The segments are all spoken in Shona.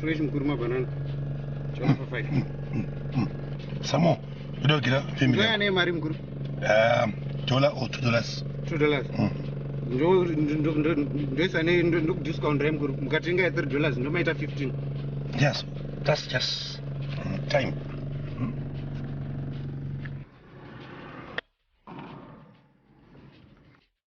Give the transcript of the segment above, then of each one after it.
Fresh mkuru mabanana. Choma for five. Samo, kuda kugira family. Ndoya ne mari mkuru. Um, dollar or two dollars. Two dollars. Mm. Ndo ndo ndo ndoisa ne ndo ndo discount re mkuru. Mukatenga ya 3 dollars ndo maita 15. Yes. That's just mm, time. Mm.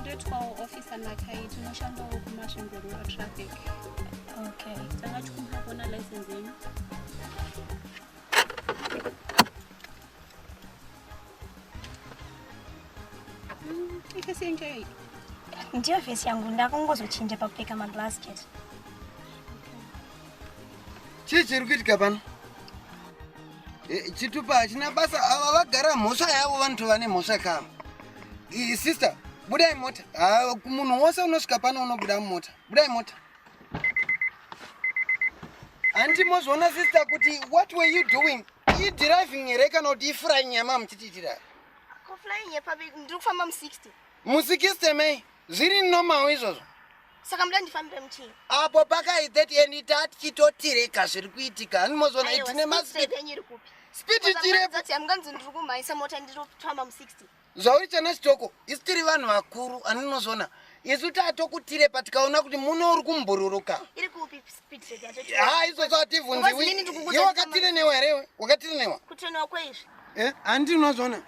ndoitwawo officer nakai tinoshandawo kumasvingo rural traffic okay tanga tikumba kuona license yenyu ifesi yenyu chaiyo ndiyo fesi yangu ndakungozochinja pakupfeka maglass chete chii chiri kuitika pano Eh, chitupa hachina basa ava vagara mhosva yavo vanoti vane mhosva kava eh, sister budai mota ah, munhu wose unosvika pano unobuda mumota budai mota handi mozviona sister kuti what were you doing idriving here kana kuti ifurayi nyama muchitiitira mu60 mei zviri normal izvozvo saka muda ndifambire muchii apo pakai that any tat chitotireka zviri kuitika hanimozoona itine maspeed speed chirepo amganzi ndiri kumhaisa mota ndiri kufamba mu 60 zvauri chana chitoko isu tiri vanhu vakuru andinozoona isu tatokutire pa tikaona kuti muno uri kumbururuka ha izvozvo hativhunziwi iwe wakatirenewa here iwe wakatirenewa eh, handinozvoona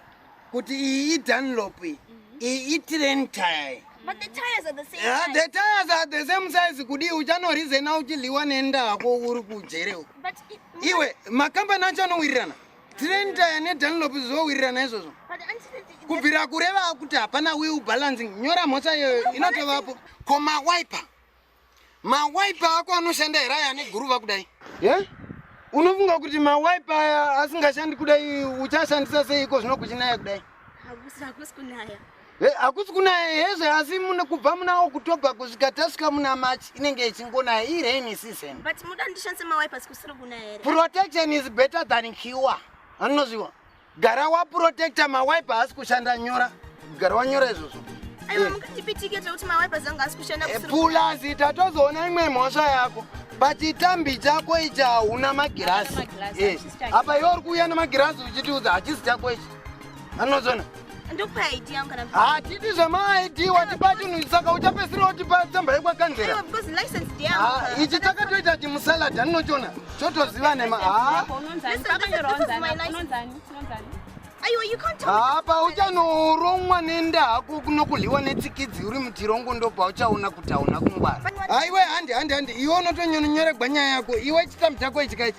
kuti iyi idunlop iyi mhm. iyi itrain tire But the tires are the same yeah, size. The tires are the same size kudii uchanorizena uchidliwa nendako uri kujere uko. But it, iwe makambani acho anowirirana. Train tire ne Dunlop zvowirirana izvozvo. But until kubvira kureva kuti hapana will balancing nyora mhosva iyoyo inotovapo koma wiper mawaipa ako anoshanda here aya ane guruva kudai ye unofunga kuti mawaipa aya asingashandi kudai uchashandisa seiko zvino kuchinaya kudai hakusi kunaya hezve asi kubva muna okutobha kusvika tasvika muna march inenge ichingonaya irain season protection is better than cure anozviwa gara waprotecta mawipe haasi kushanda nyora gara wanyora izvozvo pulazi eh, tatozoona imwe mhosva yako pachitambi chako ichi hauna magirazi eh, apa iwe uri kuuya nemagirazi uchitiudza hachisi chako ichi anozona ndokupa id yangu kana hatidi zvemaid watipa chinhu saka uchapesira utipa tsamba yekwakanzera ichi chakatoita chimusalad aninochona chotoziva nema hapa uchanoromwa nenda hako kunokuliwa netsikidzi uri mutirongo ndopa uchaona kuti hauna kungwara aiwe handi handi handi iwe unotonyononyoregwa nyaya yako iwe chitambi chako ichikaichi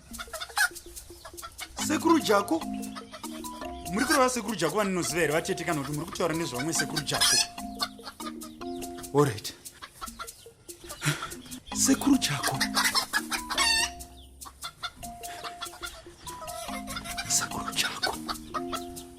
sekuru jako muri kureva sekuru jako vaninoziva here vatete kana kuti muri kutaura nezvavamwe sekuru jako orit sekuru jako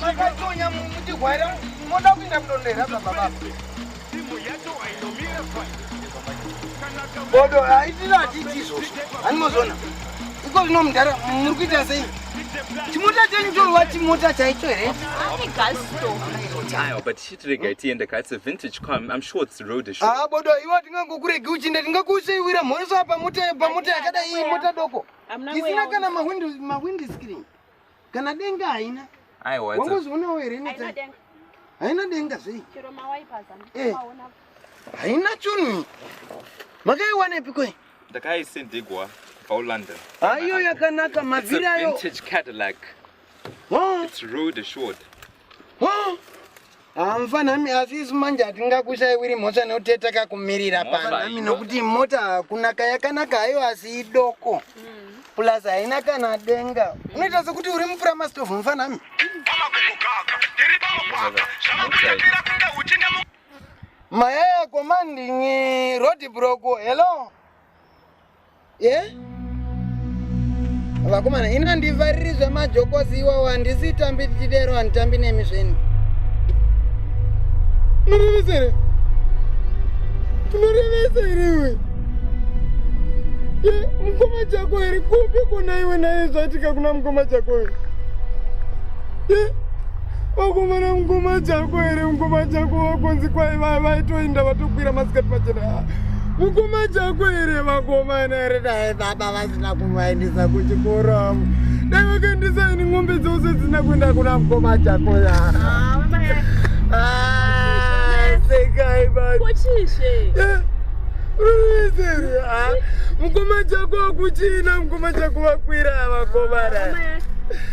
Makatonya muchigwaira moda kuinda kudonera baba baba. Timu yacho hainomira fai. bodo haitiri hatiti izvozvo hanimozona iko zvino mudhara muri kuita sei chimota chenyu chorova chimota chaicho here ah, bodo iwo tingangokuregi uchinda tingakuuseiwira mhoriso pamota yakadai mota doko isina kana mahwindi screen kana denga haina wambozvionawo here neta haina denga sei eh. haina chunhu makaiwanepi kwe ndakaisindigwa paulondon aiyo yakanaka mavhiri ayo It's a vintage Cadillac. Huh? It's rude assured. hamfanami asi isu manje hatingakushaiwiri mhosva nekuti yatakakumirira panami nokuti mota hakuna kayakanaka haiwa asi idoko plus haina kana denga unoita sekuti uri mupuramasitovu mfanami mayaya komandinyi rodi broko hello ye vakomana ini handivhariri zvemajokosi iwawo handisi tambi tichidero handitambi nemi zveni murevisere munorevesa here iwe ye mukoma chako here kupi kona iwe naye zvatika kuna mukoma chako here ye wakomana mukoma chako here mukoma chako wakonzi kwai vaitoinda vatokwira masikati machena mukoma chako here vakomana here dai baba vasina kuvaendesa kuchikoro avo dai vakaendesa ini ng'ombe dzose dzisina kuenda kuna mukoma chako ya sekai bakochizve unoizeri ha mukoma chako akuchina mukoma chako vakwira vakomana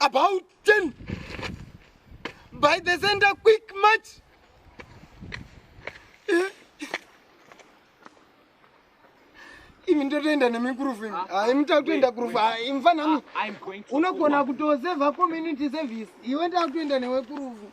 about 10 by the center quick march eh? imi ndotoenda nemikurufu imi ah, ah, mtakutoenda kurufu ah, mfanami unogona kutoseva community service iwe ndakutoenda newekurufu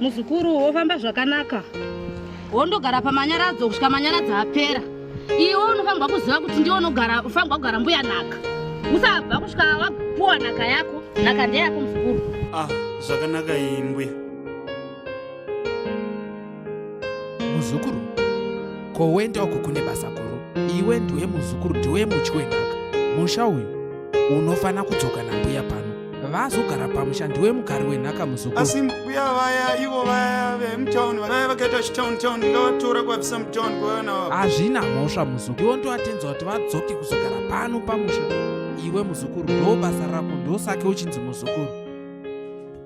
muzukuru wofamba zvakanaka wondogara pamanyaradzo kusvika manyaradzo apera iwe unofanirwa kuziva kuti ndiwe unogara ufanirwa kugara mbuya nhaka usabva kusvika wapuwa nhaka yako nhaka ndeyako muzukuru ah zvakanaka iyi mbuya muzukuru ko wenda uku kune basa guru iwe ndiwe muzukuru ndiwe mutyi wenhaka musha uyu unofanira kudzoka nambuya pano vazogara pamusha ndiwe mugari wenhaka muzukuru asi mbuya vaya ivo vaya vemutown vaya vakaita chitown town ndingavatora kuvabvisa mutown kuvaona wavo hazvina mhosva muzukuru ndiwo ndovatenza kuti vadzoke kuzogara pano pamusha iwe muzukuru ndo basa rako ndosake uchinzi muzukuru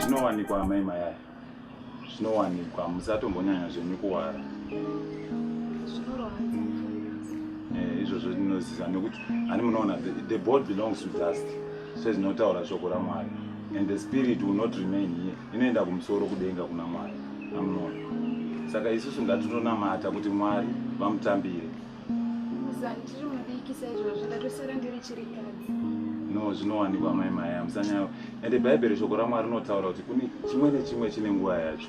zvinowanikwa amai mayaya zvinowanikwa musatombonyanya zvenyu kuwara eh, izvozvo ndinoziva nekuti ani munoona the board belongs to dust sezvinotaura shoko ramwari and the spirit will not remain here inoenda kumusoro kudenga kuna mwari amunoona saka isusu ngatitonamata kuti mwari vamutambire no zvinowanikwa mai maya musanyaya ende bhaibheri shoko ramwari rinotaura kuti kune chimwe nechimwe chine nguva yacho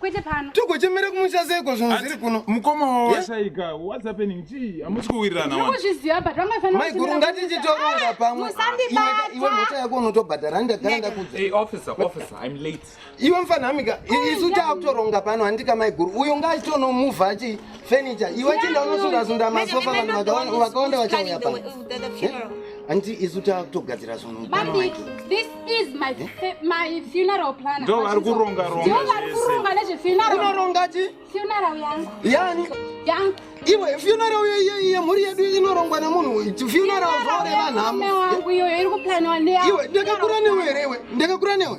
kwete pano tiri kuchemera kumusha seiko zvinhu zviri kuno mukoma wawashaika eh? whats happening chii hamusi kuwirirana vanozviziva but vangafanaiguru ngatichitoronga ah, pamwe iwe mhosva yako unotobhadhara ndagara ndakudza iwe mfanhamika isu taakutoronga pano handika maiguru uyo ngaachitonomuvha chii furniture iwe chinda unosunda sunda masofa vanhu vakawanda vachauya pa anti isu takutogadzira zvinhu ndovari kuronga ronga nezvefuneralinoronga chi funeral yangu yani yangu iwe funeral yemhuri yedu inorongwa nemunhu uyu funeral zvoreva nhamo iwe ndakakura newe here iwe ndakakura newe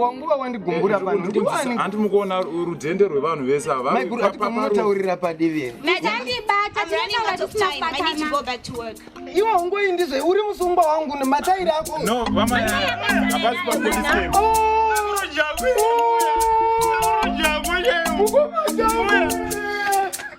wanguva wandigumbura panohandi mukuona rudhende rwevanhu vese avaaataurira padivi iwe ungoyi ndizve uri musungwa wangu nematairi ako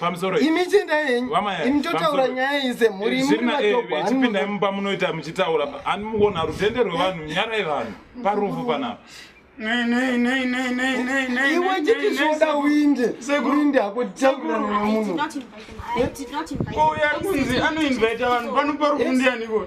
pamusoro imi chienda yenyu imi totaura nyaya iyi semhuri imuchipindai mumba munoita muchitaura ani muona rutende rwevanhu nyarai vanhu parufu panapa iwe chiti zvoda uinde uinde hako tichakura nemwe munhu uya kunzi anoinvaita vanhu panopa rukundi aniko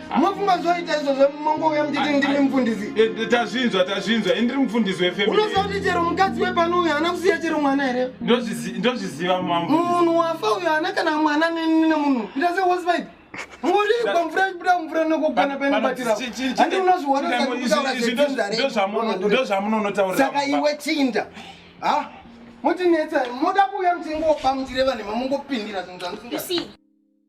Mwafunga zvoita izvozvo mongouya muchiti ndimi mufundisi. Eh, eh, tazvinzwa tazvinzwa indiri mufundisi wefamily. Unoziva kuti chero mukadzi wepano uyu haana kusiya chero mwana here? Ndozviziva mambo. Munhu wafa uyu haana kana mwana nemunhu. Ita se was right. Murikwa mvura ibuda mvura nokugana painobatira. Handi unozviona sakutaura zvetinhu Ndozvamunonotaura. Saka iwe chinda. Ha? Mutinetsa moda kuuya muchingopa muchireva nema mungopindira zvinhu zvamusinga.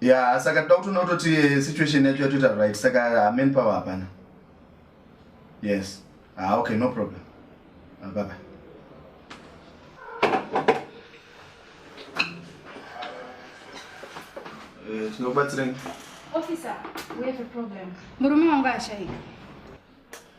ya saka toda kutoona kutoti eh, situation yacho yatoita right saka amen power hapana yes ah, okay no problem ah, bye bye eh, tinokubatsirei murume wangu ashaika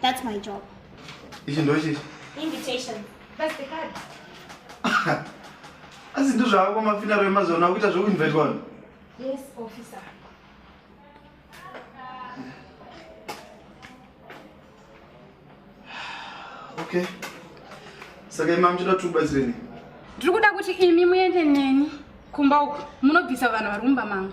That's my job. Ichi ndochi. Invitation. That's the card. Asi ndo zvako mafina rwe mazona kuita zvoku invite one. Yes, officer. Okay. Saka imam chida tu batsireni. Ndiri kuda kuti imi muende neni kumba uko munobvisa vanhu vari mumba mangu.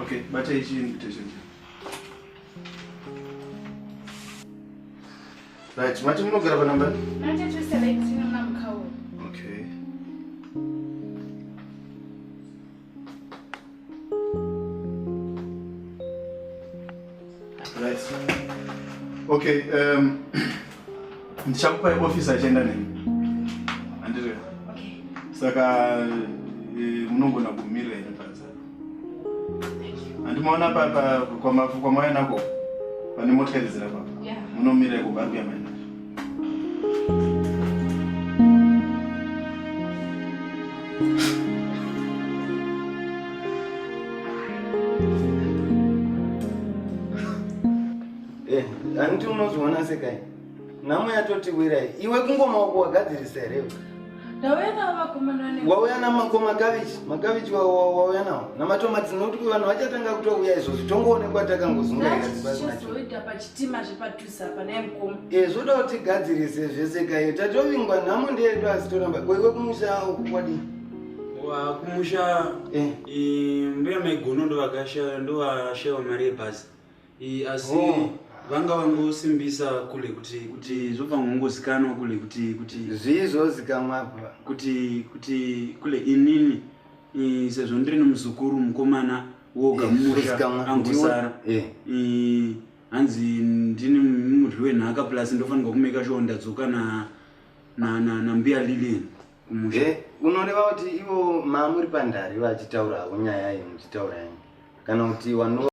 Okay, but I see invitation. Right, mati munogara panamba? 9217 muna mukhawo. Okay. Right. Okay, um, ndichakupai office achienda nemi. Andiriya. Okay. Saka eh, munogona kumira imi panza. Andimaona pa pa kwamafu kwamaya nako. Pane motikari dzira papa. Yeah. Munomira iko vari kuya maina. Eh, hanti unozviona sekai nhamo yatotiwirai iwe kungomaoko wagadzirisa here wauya namako makavichi makavichi wauya nawo namatomati nokuti vanhu vachatanga kutouya izvozvi tongoonekwa takangozungaira Eh, zvoda kuti tigadzirise zvese kaye tatovingwa nhamo ndeyedu asi toramba koiwe kumusha kwadii kumusha eh. mbuya maigono ndovakashaya ndovashaiwa mari yebhazi asi oh. vanga vangosimbisa kule kuti kuti zvobva ngongozikanwa kule kuti kuti zvii zvozikamwapa kuti kuti kule inini sezvo ndiri nomuzukuru mukomana woga mumusha angosara eh. hanzi ndini mudyi wenhaka plus ndofanirwa kumeka sure ndadzoka na na na nambuya Lillian kumusha Eh, unoreva kuti ivo mamuri pandari vachitaura havo nyaya iyi muchitaura yenyu kana kuti wano